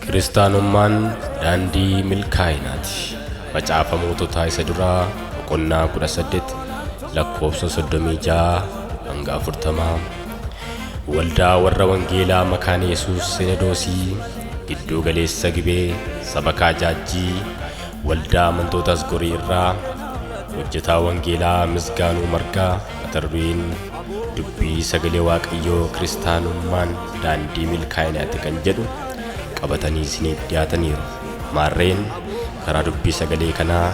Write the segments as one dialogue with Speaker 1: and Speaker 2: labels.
Speaker 1: Kiristaanummaan daandii milkaa'inaati. Macaafa Moototaa isa duraa boqonnaa 18 lakkoofsa 36 hanga 40. Waldaa warra Wangeelaa Makaana Yesuus Sinadoosii gidduu galeessa gibee sabakaa jaajjii waldaa amantoota Asgorii irraa hojjetaa Wangeelaa Misgaanuu Margaa mata dureen dubbii sagalee Waaqayyoo kiristaanummaan daandii milkaa'inaati kan jedhu qabatanii isiniif dhiyaataniiru. Maarreen karaa dubbii sagalee kanaa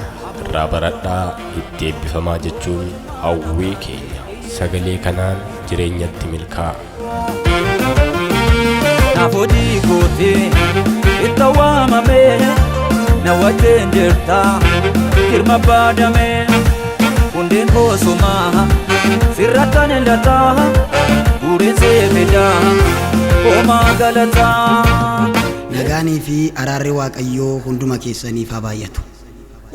Speaker 1: irraa baradhaa itti eebbifamaa jechuun hawwii keenya. Sagalee kanaan jireenyatti milkaa'a.
Speaker 2: Naaf hojii kooti itti waamamee na wajjin jirta girma baadamee. Hundeen koo sumaa sirra kan hin lataa guureen seefidaa homaa galataa. Nagaanii
Speaker 3: fi araarri Waaqayyoo hunduma keessaniif haa baay'atu.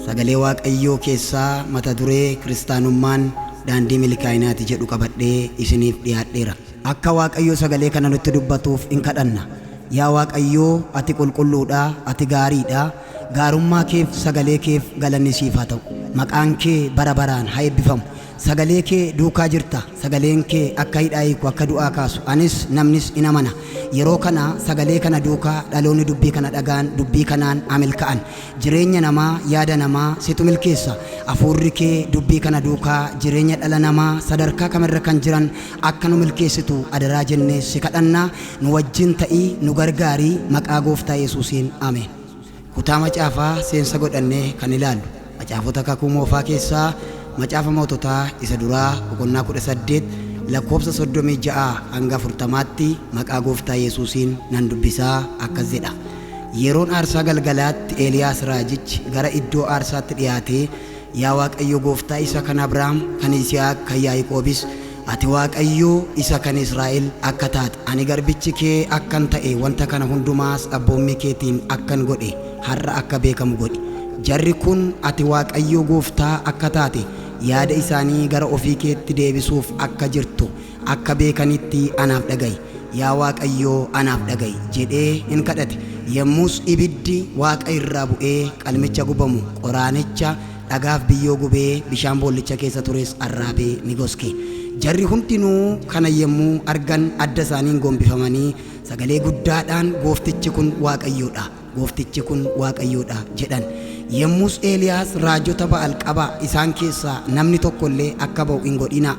Speaker 3: Sagalee Waaqayyoo keessaa mata duree Kiristaanummaan daandii milkaa'inaati jedhu qabadhee isiniif dhiyaadheera. Akka Waaqayyo sagalee kana nutti dubbatuuf in kadhanna. Yaa Waaqayyoo, ati qulqulluudha, ati gaariidha, Gaarummaa keef sagalee keef galanni siif haa ta'u. Maqaan kee bara baraan ha eebbifamu. Sagalee kee duukaa jirta. Sagaleen kee akka hidhaa hiiku akka du'aa kaasu anis namnis in amana. Yeroo kana sagalee kana duukaa dhaloonni dubbii kana dhaga'an dubbii kanaan ha milka'an. Jireenya namaa yaada namaa situ milkeessa. Afuurri kee dubbii kana duukaa jireenya dhala namaa sadarkaa kamirra kan jiran Akka nu milkeessitu adaraa jennee si kadhanna. Nu wajjin ta'i, nu gargaari. Maqaa Gooftaa Yesuusiin Ameen. Kutaa macaafaa seensa godhannee kan ilaallu macaafota kakuu moofaa keessaa macaafa moototaa isa duraa boqonnaa 18 lakkoofsa 36 hanga 40tti maqaa Gooftaa Yesuusiin nan dubbisaa akkas jedha. Yeroon aarsaa galgalaatti Eeliyaas raajichi gara iddoo aarsaatti dhiyaatee Yaa Waaqayyo gooftaa isa kan Abrahaam, kan Yisihaaq, kan Yaa'iqoobis, ati Waaqayyo isa kan Israa'el akka taate, ani garbichi kee akkan ta'e, wanta kana hundumaas abboommii keetiin akkan godhe har'a akka beekamu godhi. Jarri kun ati Waaqayyo gooftaa akka taate yaada isaanii gara ofii keetti deebisuuf akka jirtu akka beekanitti anaaf dhaga'i, yaa Waaqayyoo anaaf dhaga'i jedhee in kadhate. Yommus ibiddi waaqa irraa bu'ee qalmicha gubamu, qoraanicha, dhagaaf biyyoo gubee bishaan boollicha keessa tures arraabee ni goske. Jarri hundinuu kana yommuu argan adda isaaniin gombifamanii sagalee guddaadhaan, Gooftichi kun Waaqayyo dha! Gooftichi kun Waaqayyoo dha jedhan. Yommus Eeliyaas, Raajota Ba'al qabaa, isaan keessaa namni tokko illee akka ba'u hin godhinaa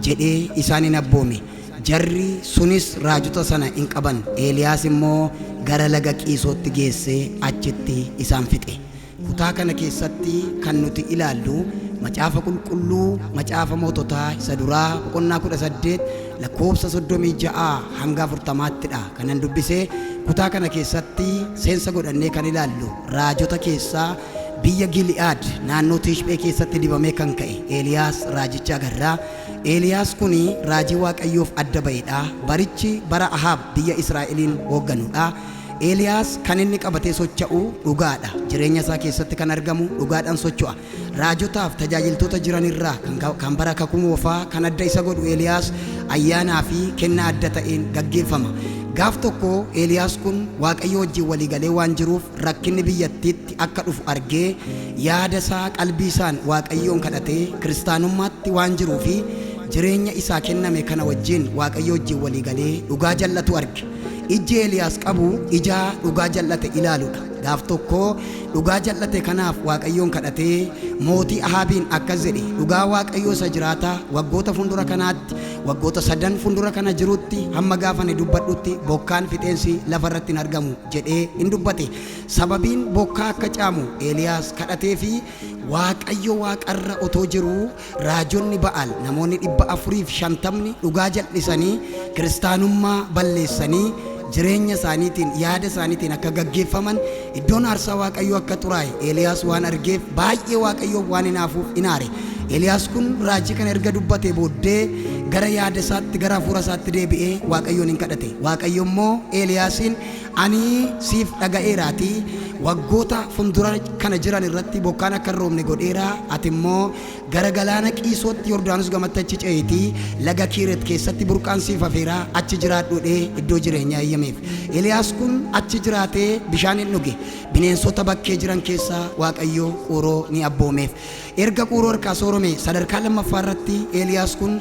Speaker 3: jedhee isaan in abboome. Jarri sunis raajota sana in qaban, Eeliyaas immoo gara laga Qiisootti geessee achitti isaan fixe. Kutaa kana keessatti kan nuti ilaallu Macaafa Qulqulluu Macaafa Moototaa isa duraa boqonnaa 18 Lakkoofsa 36 hanga 40tti dha kanan dubbise. Kutaa kana keessatti seensa godhannee kan ilaallu raajota keessaa biyya Gili'aad naannoo Tishphee keessatti dibamee kan ka'e Eeliyaas raajicha agarra. Eeliyaas kun raajii Waaqayyoof adda ba'e dha. Barichi bara Ahaab biyya Israa'eliin hoogganu dha. Eeliyaas kan inni qabatee socha'u dhugaa dha. Jireenya isaa keessatti kan argamu dhugaadhaan socho'a. Raajotaaf tajaajiltoota jiran irraa kan bara Kakuu Moofaa kan adda isa godhu Eeliyaas ayyaanaa fi kennaa adda ta'een gaggeeffama. Gaaf tokko Eeliyaas kun Waaqayyoo wajjin walii galee waan jiruuf rakkinni biyyattiitti akka dhufu argee yaada isaa qalbii isaan Waaqayyoon kadhatee kiristaanummaatti waan jiruu fi jireenya isaa kenname kana wajjin Waaqayyoo wajjin walii galee dhugaa jal'atu arge. Ijji Eeliyaas qabu ijaa dhugaa jal'ate ilaaludha. Gaaf tokko Dhugaa jal'ate kanaaf Waaqayyoon kadhatee mootii Ahaabiin akkas jedhe, Dhugaa Waaqayyoo isa jiraataa, waggoota fundura kanaatti, waggoota sadan fundura kana jirutti, hamma gaafa ani dubbadhutti bokkaan fixeensi lafa irratti hin argamu jedhee in dubbate. Sababiin bokkaa akka caamu Eeliyaas kadhateefi Waaqayyo waaqa irra otoo jiruu, Raajonni Ba'aal namoonni 450'ni dhugaa jal'isanii kiristaanummaa balleessanii jireenya isaaniitiin, yaada isaaniitiin akka gaggeeffaman, iddoon aarsaa Waaqayyoo akka xuraa'e Eeliyaas waan argeef baay'ee Waaqayyoof waan hinaafuuf in aare. Eeliyaas kun raajii kana erga dubbatee booddee gara yaada isaatti, gara hafuura isaatti deebi'ee Waaqayyoon in kadhate. Waaqayyo immoo Eeliyaasiin Ani siif dhaga'eeraatii, waggoota fundura kana jiran irratti bokkaan akka hin roobne godheera, ati immoo gara galaana Qiisootti Yordaanos gamatti achi ce'iitii laga Kiiret keessatti burqaan siif hafeera, achi jiraadhu jedhee iddoo jireenyaa eeyyameef. Eliyaas kun achi jiraatee bishaan in dhuge, bineensota bakkee jiran keessaa Waaqayyo Quuroo ni abboomeef. Erga Quuroo harkaa soorome sadarkaa lammaffaa irratti Eliyaas kun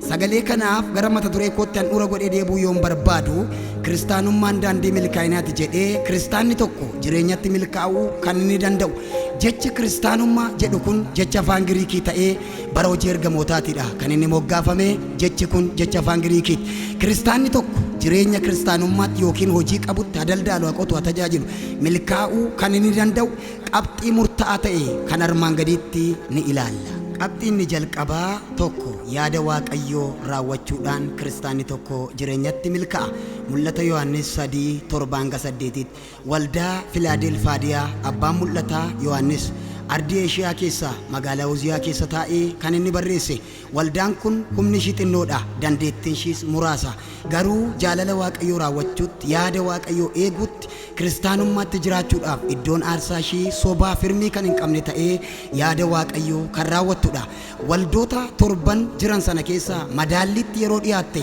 Speaker 3: Sagalee kanaaf gara mata duree kootti handhuura godhee deebuu yoon barbaadu, Kiristaanummaan daandii milkaa'inaati jedhee kiristaanni tokko jireenyatti milkaa'uu kan inni danda'u jechi kiristaanummaa jedhu kun jecha afaan Giriikii ta'ee bara hojii ergamootaatidha kan inni moggaafame jechi kun jecha afaan Giriikiiti. Kiristaanni tokko jireenya kiristaanummaatti yookiin hojii qabutti ha daldaalu, ha qotu, ha tajaajilu milkaa'uu kan inni danda'u Qabxii murta'aa ta'e kan armaan gadiitti ni ilaalla. Qabxii inni jalqabaa, 1 yaada Waaqayyoo raawwachuudhaan kiristaanni tokko jireenyatti milka'a. Mul'ata Yohaannis 3, 7-8tti waldaa Filaadelfaadiyaa abbaan mul'ataa Yohaannis ardii Eeshiyaa keessaa magaalaa Uziyaa keessa taa'ee kan inni barreesse Waldaan kun humni ishii xinnoo dha, dandeettiin ishiis muraasa. Garuu jaalala Waaqayyoo raawwachuutti, yaada Waaqayyoo eeguutti, Kiristaanummaatti jiraachuudhaaf iddoon aarsaa ishii sobaa firmii kan hin qabne ta'ee yaada Waaqayyoo kan raawwattu dha. Waldoota torban jiran sana keessaa madaalliitti yeroo dhiyaatte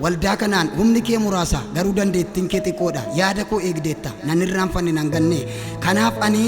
Speaker 3: Waldaa kanaan humni kee muraasa, garuu dandeettiin kee xiqqoo dha. Yaada koo eegdeetta, nan irraanfanne, nan ganne. Kanaaf ani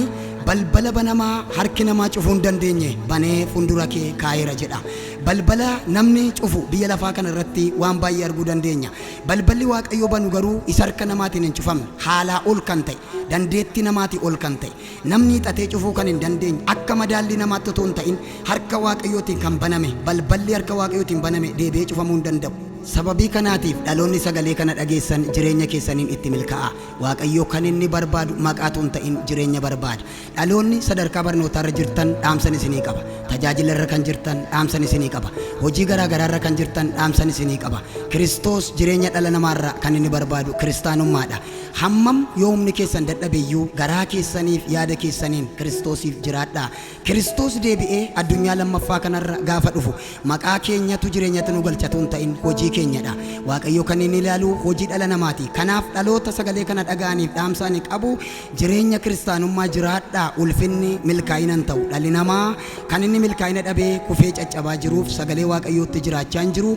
Speaker 3: balbala banamaa harki namaa cufuu hin dandeenye banee fundura kee kaa'eera jedha. Balbala namni cufu biyya lafaa kana irratti waan baay'ee arguu dandeenya. Balballi Waaqayyo banu garuu isa harka namaatiin hin cufamne, haalaa ol kan ta'e, dandeettii namaatii ol kan ta'e, Namni hiixatee cufuu kan hin dandeenye akka madaallii namaatti utuu hin ta'in harka Waaqayyootiin kan baname, balballi harka Waaqayyootiin baname deebi'ee cufamuu hin danda'u. Sababii kanaatiif dhaloonni sagalee kana dhageessan jireenya keessaniin itti milka'aa. Waaqayyo kan inni barbaadu maqaa utuu hin ta'in jireenya barbaada. Dhaloonni sadarkaa barnootaa irra jirtan dhaamsan isinii qaba. Tajaajila irra kan jirtan dhaamsan isinii qaba. Hojii garaa garaa irra kan jirtan dhaamsan isinii qaba. Kiristoos jireenya dhala namaa irraa kan inni barbaadu kiristaanummaa dha. Hammam yoo humni keessan dadhabe iyyuu, garaa keessanii fi yaada keessaniin Kiristoosiif jiraadhaa. Kiristoos deebi'ee addunyaa lammaffaa kana irra gaafa dhufu, maqaa keenyatu jireenyatti nu galcha utuu hin ta'in, hojii keenya dha. Waaqayyo kan inni ilaalu hojii dhala namaa ti. Kanaaf dhaloota sagalee kana dhaga'aniif dhaamsa ani qabu, jireenya Kiristaanummaa jiraadhaa. Ulfinni milkaa'ina hin ta'u. Dhalli namaa kan inni milkaa'ina dhabee kufee caccabaa jiruuf, sagalee Waaqayyootti jiraachaa hin jiru.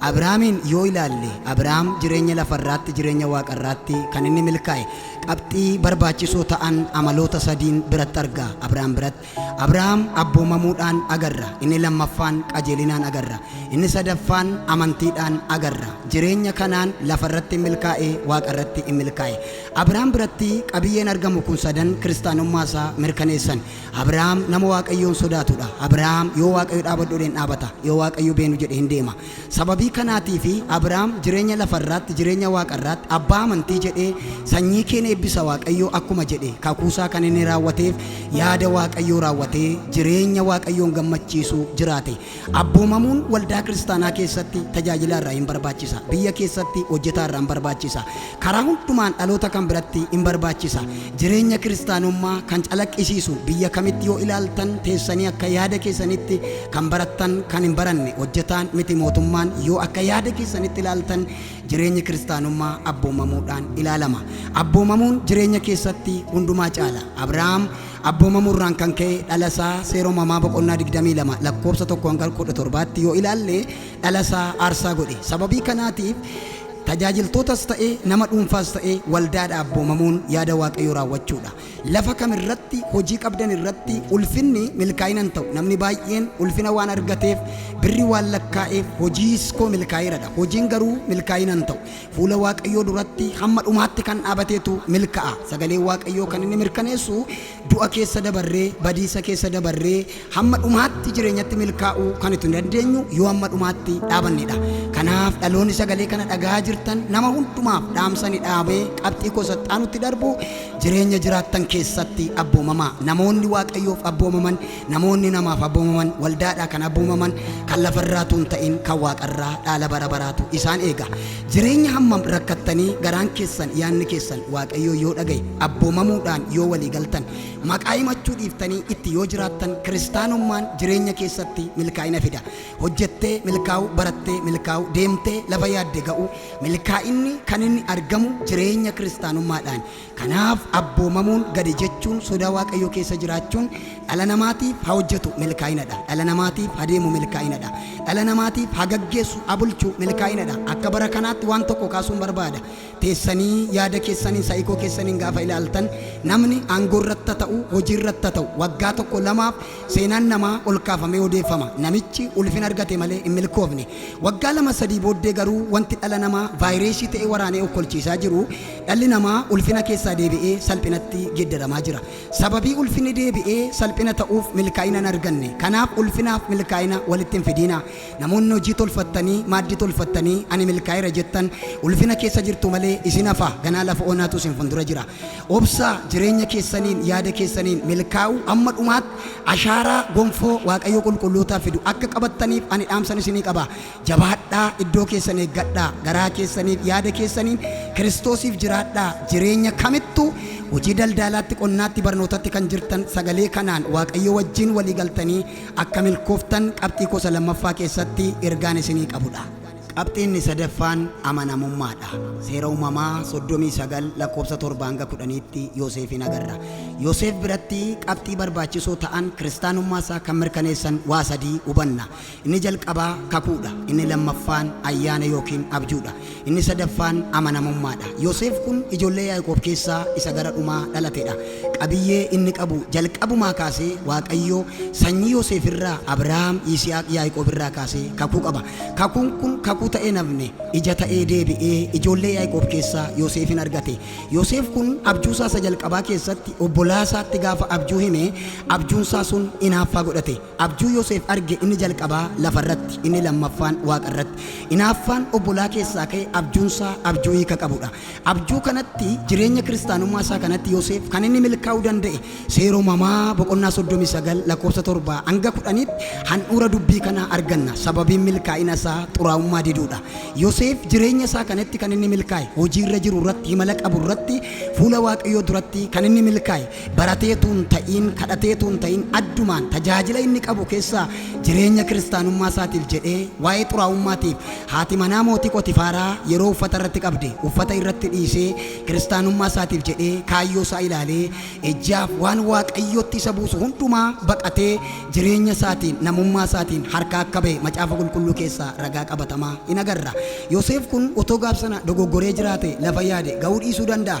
Speaker 3: Abrahaamiin yoo ilaalle, Abrahaam jireenya lafa irraatti jireenya waaqa irraatti kan inni milkaa'e qabxii barbaachisoo ta'an amaloota sadiin biratti arga. Abrahaam biratti. Abrahaam abboomamuudhaan agarra. Inni lammaffaan qajeelinaan agarra. Inni sadaffaan amantiidhaan agarra. Jireenya kanaan lafa irratti in milkaa'e, waaqa irratti in milkaa'e. Abrahaam biratti qabiyyeen argamu kun sadan kiristaanummaa isaa mirkaneessan. Abrahaam nama Waaqayyoon sodaatu dha. Abrahaam yoo Waaqayyo dhaabadhu jedhe hin dhaabata, yoo Waaqayyo beenu jedhe hin deema. Sababii kanaatiif Abrahaam jireenya lafa irraatti, jireenya waaqa irraatti abbaa amantii jedhee sanyii keen eebbisa Waaqayyoo akkuma jedhe kakuu isaa kan inni raawwateef yaada Waaqayyoo raawwatee jireenya Waaqayyoon gammachiisu jiraate. Abboomamuun waldaa kiristaanaa keessatti tajaajilaa irraa in barbaachisa, biyya keessatti hojjetaa irraa in barbaachisa, karaa hundumaan dhaloota kan biratti in barbaachisa. Jireenya kiristaanummaa kan calaqqisiisu biyya kamitti yoo ilaaltan teessanii akka yaada keessanitti kan barattan kan hin baranne hojjetaan miti mootummaan yoo akka yaada keessanitti ilaaltan jireenyi kiristaanummaa abboomamuudhaan ilaalama. Abboomamuun jireenya keessatti hundumaa caala. Abrahaam Abboomamuu irraan kan ka'e dhala isaa Seera Uumamaa boqonnaa 22 lakkoofsa 1 hanga 17tti yoo ilaalle dhala isaa aarsaa godhe. Sababii kanaatiif tajaajiltootas ta'e nama dhuunfaas ta'e waldaadha abboomamuun yaada Waaqayyoo raawwachuudha. Lafa kam irratti hojii qabdan irratti ulfinni milkaa'ina hin ta'u. Namni baay'een ulfina waan argateef birri waan lakkaa'eef hojiis koo milkaa'eeradha. Hojiin garuu milkaa'ina hin ta'u. Fuula Waaqayyoo duratti hamma dhumaatti kan dhaabateetu milka'a. Sagaleen Waaqayyoo kan inni mirkaneessu du'a keessa dabarree, badiisa keessa dabarree hamma dhumaatti jireenyatti milkaa'uu kan itti dandeenyu yoo hamma dhumaatti dhaabannedha. Kanaaf dhaloonni sagalee kana dhagahaa jirtan nama hundumaaf dhaamsani dhaabee qabxii koo saxxaanutti darbu jireenya jiraattan keessatti abboomamaa. Namoonni Waaqayyoof abboomaman Namoonni namaaf abboomaman waldaadhaa kan abboomaman kan lafa irraa utuu hin ta'in kan waaqa irraa dhaala bara baraatu isaan eega. Jireenya hammam rakkattanii garaan keessan yaadni keessan Waaqayyoo yoo dhaga'e abboomamuudhaan yoo walii galtan maqaa himachuu dhiiftanii itti yoo jiraattan kiristaanummaan jireenya keessatti milkaa'ina fida. Hojjettee milkaa'uu, barattee milkaa'uu, deemtee lafa yaadde ga'uu milkaa'inni kan inni argamu jireenya kiristaanummaadhaan. Kanaaf abboomamuun gadi jechuun sodaa Waaqayyoo keessa jiraachuun dhala namaatiif ha hojjetu milkaa'inadha. Dhala namaatiif ha deemu milkaa'inadha. Dhala namaatiif ha gaggeessu ha bulchu milkaa'inadha. Akka bara kanaatti waan tokko kaasuun barbaada. Teessanii yaada keessaniin sa'ikoo keessaniin gaafa ilaaltan namni aangoo irratti ha ta'u hojii irratti ha ta'u waggaa tokko lamaaf seenaan namaa ol kaafamee odeeffama. Namichi ulfina argate malee hin milkoofne. Waggaa lama sadii booddee garuu wanti dhala namaa vaayireesii ta'ee waraanee okkolchiisaa jiru Dhalli namaa ulfina keessaa deebi'ee salphinatti geeddaramaa jira. Sababii ulfinni deebi'ee salphina ta'uuf milkaa'ina hin arganne. Kanaaf ulfinaaf milkaa'ina walitti hin fidiinaa. Namoonni hojii tolfattanii, maaddii tolfattanii ani milkaa'eera jettan ulfina keessa jirtu malee isin hafa ganaa lafa onaatu isin fundura jira. Obsaa, jireenya keessaniin, yaada keessaniin milkaa'uu amma dhumaatti ashaaraa gonfoo Waaqayyoo qulqullootaa fidu akka qabattaniif ani dhaamsan isinii qaba. Jabaadhaa, iddoo keessan eeggadhaa, garaa keessaniif yaada keessaniin Kiristoosiif jiraadhaa, jireenya kamittuu hojii daldaalaatti, qonnaatti, barnootatti kan jirtan sagalee kanaan Waaqayyoo wajjin walii galtanii akka milkooftan qabxii koo isa lammaffaa keessatti ergaan isinii qabudha. Qabxiin inni sadaffaan amanamummaadha. Seera Uumamaa 39 lakkoofsa 7 hanga 10tti Yooseefiin agarra. Yooseef biratti qabxii barbaachisoo ta'an kiristaanummaa isaa kan mirkaneessan waa sadii hubanna. Inni jalqabaa kakuu dha, inni lammaffaan ayyaana ykn abjuu dha, inni sadaffaan amanamummaa dha. Yoseef kun ijoollee Yaaqoob keessaa isa gara dhumaa dhalate dha. Qabiyyee inni qabu jalqabumaa kaasee Waaqayyo sanyii Yoseef irraa Abrahaam, Yisihaaq, Yaaqoob irraa kaasee kakuu qaba. Kakuun kun kakuu ta'ee hin hafne, ija ta'ee deebi'ee ijoollee Yaaqoob keessaa Yoseefin argate. Yoseef kun abjuu isaa isa jalqabaa keessatti obbolaa isaatti gaafa abjuu hime abjuun isaa sun inaaffaa godhate. Abjuu Yoseef arge inni jalqabaa lafa irratti, inni lammaffaan waaqa irratti. Inaaffaan obbolaa keessaa ka'e abjuun isaa abjuu hiika qabu dha. Abjuu kanatti jireenya kiristaanummaa isaa kanatti Yoseef kan inni milkaa'uu danda'e Seera Uumamaa boqonnaa 39 lakkoofsa 7 hanga 10tti handhuura dubbii kanaa arganna. Sababiin milkaa'ina isaa xuraa'ummaa diduu dha. Yoseef jireenya isaa kanatti kan inni milkaa'e hojii irra jiru irratti, himala qabu irratti, fuula Waaqayyoo duratti kan inni milkaa'e Baratee utuu hin ta'iin, kadhatee utuu hin ta'iin, addumaan tajaajila inni qabu keessaa jireenya kiristaanummaa isaatiif jedhee waa'ee xuraa'ummaatiif haati manaa mootii Phoxifaaraa yeroo uffata irratti qabde uffata irratti dhiisee kiristaanummaa isaatiif jedhee kaayyoo isaa ilaalee ejjeaaf waan Waaqayyootti isa buusu hundumaa baqatee jireenya isaatiin namummaa isaatiin harkaa akka ba'e macaafa qulqulluu keessaa ragaa qabatamaa in agarra. Yoseef kun otoo gaaf sana dogoggoree jiraate lafa yaade ga'uu dhiisuu danda'a.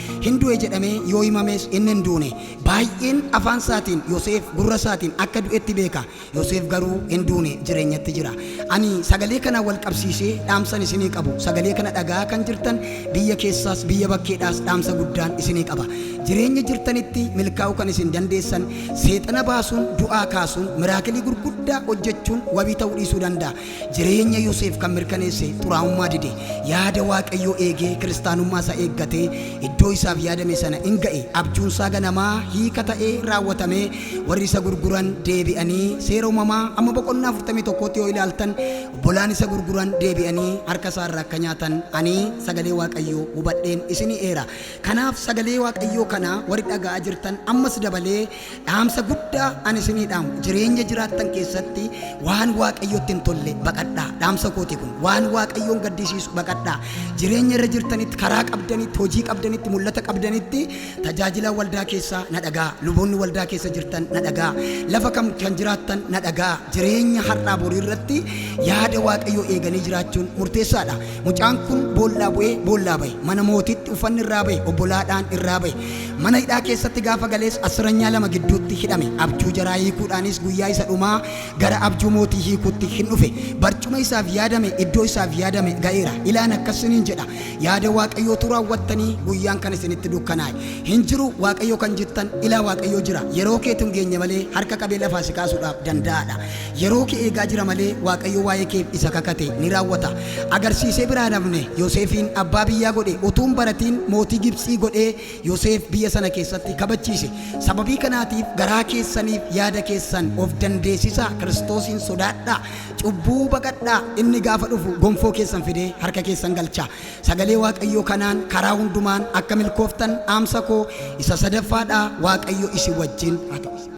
Speaker 3: Hin du'e jedhamee yoo himames inni hin duune. Baay'een afaan isaatiin Yoseef gurra isaatiin akka du'etti beeka. Yoseef garuu hin duune jireenyatti jira. Ani sagalee kanaan wal qabsiisee dhaamsan isinii qabu. Sagalee kana dhaga'aa kan jirtan biyya keessaas biyya bakkeedhaas dhaamsa guddaan isinii qaba. Jireenya jirtanitti milkaa'uu kan isin dandeessan seexana baasuun du'aa kaasuun miraakilii gurguddaa hojjechuun wabii ta'uu dhiisuu danda'a. Jireenya Yoseef kan mirkaneesse xuraa'ummaa dide, yaada Waaqayyoo eegee kiristaanummaa isaa eeggatee iddoo isaaf yaadame sana in ga'e, abjuun isaa ganamaa hiika ta'ee raawwatamee warri isa gurguran deebi'anii seera uumamaa amma boqonnaa 41tti yoo ilaaltan obbolaan isa gurguran deebi'anii harka isaa irraa akka nyaatan ani sagalee Waaqayyoo hubadheen isinii eera. Kanaaf sagalee Waaqayyoo kana warri dhaga'aa jirtan ammas dabalee Dhaamsa guddaa ani isinii dhaamu jireenya jiraattan keessatti waan waaqayyotti hin tolle baqadhaa. Dhaamsa kooti kun waan waaqayyoon gaddisiisu baqadhaa. Jireenya irra jirtanitti karaa qabdanitti hojii qabdanitti mul'ata qabdanitti tajaajilaan waldaa keessaa na dhagaa. Luboonni waldaa keessa jirtan na dhagaa. Lafa kam kan jiraattan na dhagaa. Jireenya har'aa borii irratti yaada waaqayyoo eeganii jiraachuun murteessaadha. Mucaan kun boollaa bu'ee boollaa bahe. Mana mootiitti uffanni irraa bahe, obbolaadhaan irraa bahe. Mana hidhaa keessatti gaafa galees assiranyaa lama gidduutti hidhame. Abjuu jaraa hiikuudhaanis guyyaa isa dhumaa gara abjuu mootii hiikuutti hin dhufe. Barcuma isaaf yaadame, iddoo isaaf yaadame ga'eera. Ilaan akkas isiniin jedha, yaada Waaqayyootu raawwattanii guyyaan kan isinitti dukkanaa'e hin jiru. Waaqayyo kan jettan ilaa Waaqayyo jira. Yeroo keetu hin geenye malee harka qabee lafaa si kaasuudhaaf danda'aadha. Yeroo kee eegaa jira malee Waaqayyo waa'ee keef isa kakate ni raawwata. Agarsiisee biraa hin hafne. Yoseefiin abbaa biyyaa godhe. Utuu hin baratiin mootii Gibtsii godhee Yoseef biyya sana keessatti kabachiise. Sababii kanaatiif garaa keessaniif yaada keessan of dandeessisaa, Kiristoosiin sodaadhaa, cubbuu baqadhaa, inni gaafa dhufu gonfoo keessan fidee harka keessan galcha. Sagalee Waaqayyoo kanaan karaa hundumaan akka milkooftan dhaamsa koo isa sadaffaa dha, Waaqayyo isin wajjin haa ta'u.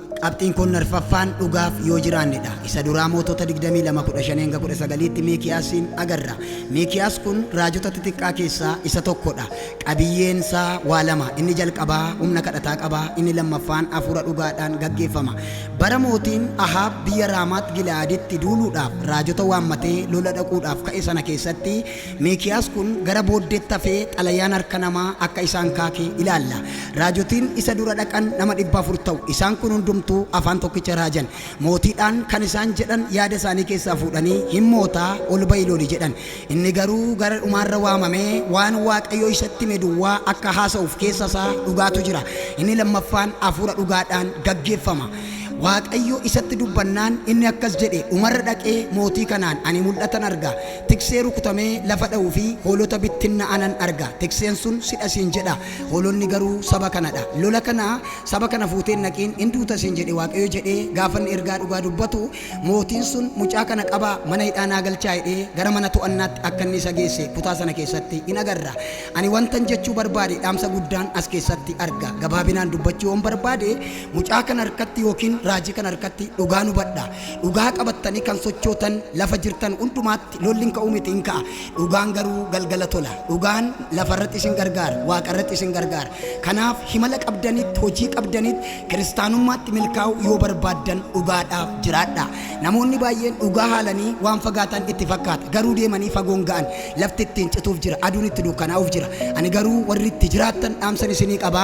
Speaker 3: Qabxiin kun arfaffaan dhugaaf yoo jiraanne dha. Isa duraa Mootota 22 15-19tti Miikiyaasiin agarra. Miikiyaas kun raajota xixiqqaa keessaa isa tokko dha. Qabiyyeen isaa waa lama, inni jalqabaa humna kadhataa qaba, inni lammaffaan hafuura dhugaadhaan gaggeeffama. Bara mootiin Ahaab biyya Raamaat Gila'aaditti duuluudhaaf raajota waammatee lola dhaquudhaaf ka'e sana keessatti, Miikiyaas kun gara booddeetti hafee xalayaan harka namaa akka isaan kaake ilaalla. Raajotiin isa dura dhaqan nama 400 ta'u. Isaan kun hundumtuu afaan tokkicha raajan. Mootiidhaan kan isaan jedhan yaada isaanii keessaa fuudhanii, Hin mootaa, ol ba'i loli jedhan. Inni garuu gara dhumaarra waamamee waan Waaqayyo isatti hime duwwaa akka haasa'uuf keessa isaa dhugaatu jira. Inni lammaffaan hafuura dhugaadhaan gaggeeffama. Waaqayyo isatti dubbannaan inni akkas jedhe, Dhumarra dhaqee mootii kanaan, Ani mul'atan arga. Tiksee rukutamee lafa dha'u fi hoolota bittinna'anan arga. Tikseen sun sidha siin jedha, hoolonni garuu saba kana dha. Lola kana saba kana fuutee hin dhaqiin, in duuta siin jedhe Waaqayyo jedhee gaafa inni ergaa dhugaa dubbatu, mootiin sun mucaa kana qabaa mana hidhaa naa galchaa jedhee gara mana to'annaatti akka inni isa geesse kutaa sana keessatti in agarra. Ani wantan jechuu barbaade dhaamsa guddaan as keessatti arga. Gabaabinaan dubbachuu yoon barbaade, mucaa kana harkatti ykn raajii kana harkatti dhugaan hubadha. Dhugaa qabattanii kan sochootan lafa jirtan hundumaatti lolli hin ka'u miti, in ka'a. Dhugaan garuu galgala tola. Dhugaan lafa irratti isin gargaara, waaqa irratti isin gargaara. Kanaaf himala qabdaniitti, hojii qabdaniitti, kiristaanummaatti milkaa'uu yoo barbaaddan dhugaadhaaf jiraadhaa. Namoonni baay'een dhugaa haalanii waan fagaatan itti fakkaata. Garuu deemanii fagoo hin ga'an. Lafti ittiin cituuf jira. Aduun itti dukkanaa'uuf jira. Ani garuu warri itti jiraattan dhaamsan isinii qaba.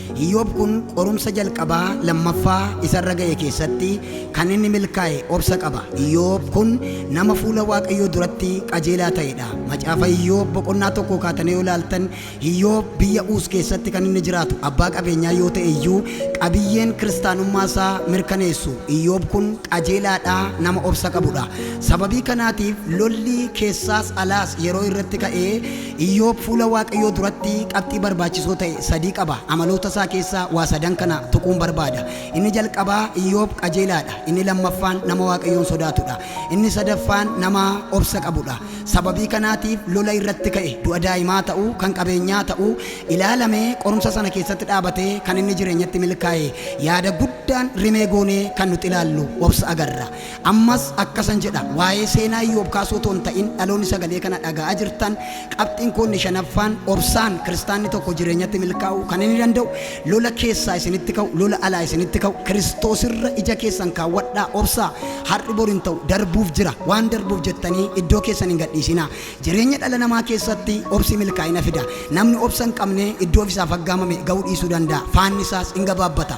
Speaker 3: Iyoob kun qorumsa jalqabaa, lammaffaa, isa irra ga'e keessatti kan inni milkaa'e obsa qaba. Iyoob kun nama fuula Waaqayyoo duratti qajeelaa ta'e dha. Macaafa Iyoob boqonnaa 1 kaatanii yoo ilaaltan, Iyoob biyya Uus keessatti kan inni jiraatu abbaa qabeenyaa yoo ta'e iyyuu, qabiyyeen Kiristaanummaa isaa mirkaneessu Iyoob kun qajeelaa dha, nama obsa qabu dha. Sababii kanaatiif lolli keessaas alaas yeroo irratti ka'ee, Iyyoob fuula Waaqayyoo duratti qabxii barbaachisoo ta'e sadii qaba. Amaloota isaa keessaa waa sadan kana tuquun barbaada. Inni jalqabaa Iyyoob qajeelaa dha. Inni lammaffaan nama Waaqayyoon sodaatu dha. Inni sadaffaan nama obsa qabu dha. Sababii kanaatiif lola irratti ka'e, du'a daa'imaa ta'u, kan qabeenyaa ta'u, ilaalame, qorumsa sana keessatti dhaabatee kan inni jireenyatti milkaa'e. Yaada guddaan rimee goonee kan nuti ilaallu obsa agarra. Ammas akkasan jedha, waa'ee seenaa Iyyoob kaasuu otoo hin ta'in, dhaloonni sagalee kana dhaga'aa jirtan, qabxiin koo inni shanaffaan, obsaan kiristaanni tokko jireenyatti milkaa'uu kan inni danda'u, lola keessaa isinitti ka'u, lola alaa isinitti ka'u, Kiristoosirra ija keessan kaawwadhaa, obsaa, har'i bor hin ta'u, darbuuf jira, waan darbuuf jettanii iddoo keessan hin gadhiisinaa. Jireenya dhala namaa keessatti obsi milkaa'ina fida. Namni obsa hin qabne iddoo ofisaaf aggaamame ga'uu dhiisuu danda'a, faannisaas in gabaabbata.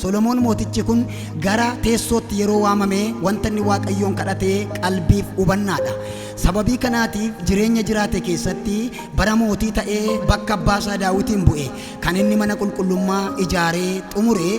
Speaker 3: Solomoon mootichi kun gara teessootti yeroo waamame wanta inni Waaqayyoon kadhate qalbiif hubannaadha. Sababii kanaatiif jireenya jiraate keessatti bara mootii ta'ee bakka abbaa isaa Daawitiin bu'e kan inni mana qulqullummaa ijaaree xumure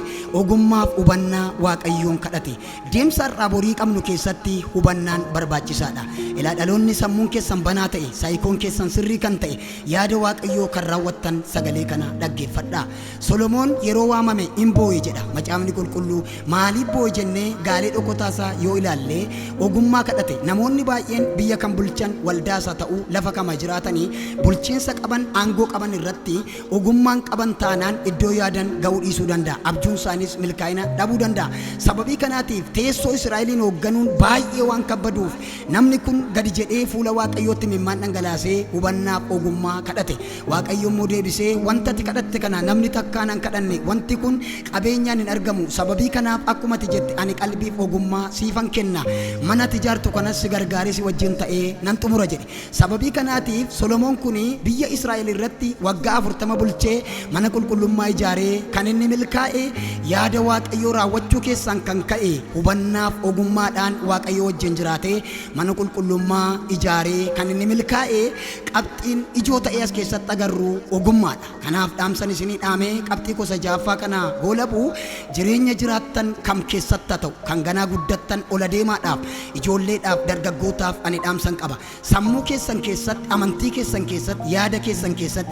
Speaker 3: ogummaaf hubannaa Waaqayyoon kadhate. Deemsa har'aa borii qabnu keessatti hubannaan barbaachisaadha. Ilaa dhaloonni sammuun keessan banaa ta'e, saayikoon keessan sirrii kan ta'e, yaada Waaqayyoo kan raawwattan sagalee kana dhaggeeffadhaa. Solomoon yeroo waamame in boo'e jedha Macaafni Qulqulluu. Maaliif boo'e jennee gaalee dhokotaa isaa yoo ilaalle, ogummaa kadhate. Namoonni baay'een biyya kan bulchan waldaa isaa ta'uu, lafa kama jiraatanii, bulchiinsa qaban, aangoo qaban irratti ogummaan qaban taanaan iddoo yaadan ga'uu dhiisuu danda'a. Abjuun isaaniis milkaa'ina dhabuu danda'a. Sababii kanaatiif teessoo Israa'eliin hoogganuun baay'ee waan kabbaduuf, namni kun gadi jedhee fuula Waaqayyootti imimmaan dhangalaasee hubannaaf ogummaa kadhate. Waaqayyo immoo deebisee, Wanta ati kadhatte kana namni takkaa nan kadhanne, wanti kun qabeenyaan hin argamu, sababii kanaaf akkuma ati jette ani qalbiif ogummaa siifan kenna, mana ati ijaartu kanas si gargaaree si wajjin ta'ee nan xumura jedhe. Sababii kanaatiif Solomoon kun biyya Israa'el irratti waggaa afurtama bulchee mana qulqullummaa ijaare, kan inni milkaa'e yaada Waaqayyoo raawwachuu keessaan kan ka'e hubannaaf ogummaadhaan Waaqayyoo wajjin jiraatee mana qulqullummaa ijaaree kan inni milkaa'e Qabxiin ijoo ta'ee as keessatti agarru ogummaadha. Kanaaf dhaamsan isinii dhaamee qabxii koo isa ja'affaa kana goolabu jireenya jiraattan kam keessatti haa ta'u kan ganaa guddattan ol adeemaadhaaf, ijoolleedhaaf, dargaggootaaf ani dhaamsan qaba. Sammuu keessan keessatti, amantii keessan keessatti, yaada keessan keessatti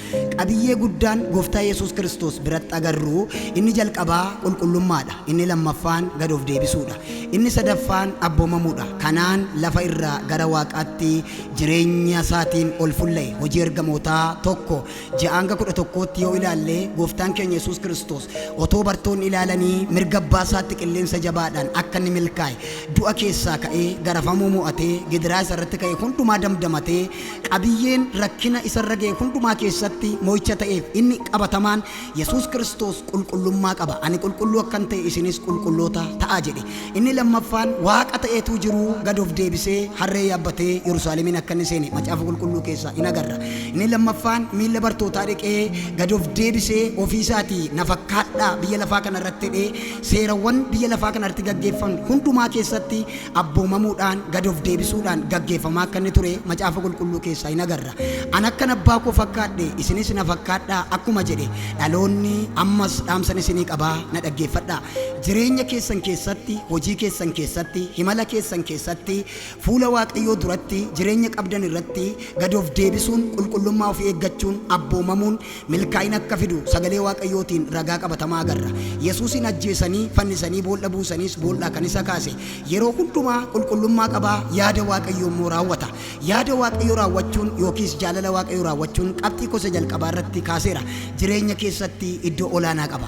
Speaker 3: Qabiyyee guddaan Gooftaa Yesuus Kiristoos biratti agarru, inni jalqabaa qulqullummaa dha, inni lammaffaan gad of deebisuu dha, inni sadaffaan abboomamuu dha, kanaan lafa irraa gara waaqaatti jireenya isaatiin ol fulla'e. Hojii Ergamootaa 1, 6-11tti yoo ilaalle, Gooftaan keenya Yesuus Kiristoos otoo bartoonni ilaalanii mirga abbaa isaatti qilleensa jabaadhaan akka inni milkaa'e, du'a keessaa ka'ee, garafamuu mo'atee, gidiraa isa irratti ka'e hundumaa damdamatee, Qabiyyeen rakkina isa irra ga'e hundumaa keessatti mo'icha ta'eef inni qabatamaan, Yesuus Kiristoos qulqullummaa qaba. Ani qulqulluu akkan ta'e isinis qulqulloota ta'aa jedhe. Inni lammaffaan, Waaqa ta'ee utuu jiruu gad of deebisee harree yaabbatee Yerusaalemiin akka inni seene Macaafa Qulqulluu keessaa in agarra. Inni lammaffaan, miilla bartootaa dhiqee gad of deebisee ofii isaatii na fakkaadhaa biyya lafaa kana irratti jedhee seerawwan biyya lafaa kana irratti gaggeeffaman hundumaa keessatti abboomamuudhaan, gad of deebisuudhaan gaggeeffamaa akka inni ture Macaafa Qulqulluu keessaa in agarra. An akkan abbaa koo fakkaadhe isinis na fakkaadhaa akkuma jedhe dhaloonni ammas dhaamsan isinii qabaa na dhaggeeffadhaa. Jireenya keessan keessatti, hojii keessan keessatti, himala keessan keessatti, fuula Waaqayyoo duratti, jireenya qabdan irratti gad of deebisuun, qulqullummaa ofii eeggachuun, abboomamuun, milkaa'ina akka fidu Sagalee Waaqayyootiin ragaa qabatamaa agarra. Yesuusiin ajjeesanii, fannisanii bool'a buusaniis bool'aa kan isa kaase yeroo hundumaa qulqullummaa qaba, yaada Waaqayyoo immoo raawwata. Yaada Waaqayyoo raawwachuun yookiis jaalala Waaqayyoo raawwachuun qabxii koo isa jalqabaa irratti kaaseera. Jireenya keessatti iddoo olaanaa qaba.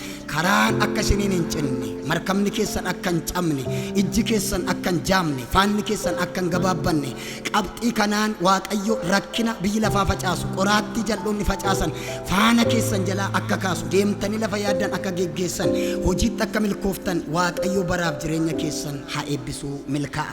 Speaker 3: Karaan akka isiniin hin cinne, markabni keessan akka hin cabne, ijji keessan akka hin jaamne, faanni keessan akka hin gabaabbanne, qabxii kanaan Waaqayyo rakkina biyyi lafaa facaasu, qoraattii jal'oonni facaasan faana keessan jalaa akka kaasu, deemtanii lafa yaaddan akka geggeessan, hojiitti akka milkooftan Waaqayyo baraaf jireenya keessan haa eebbisuu milkaa'a.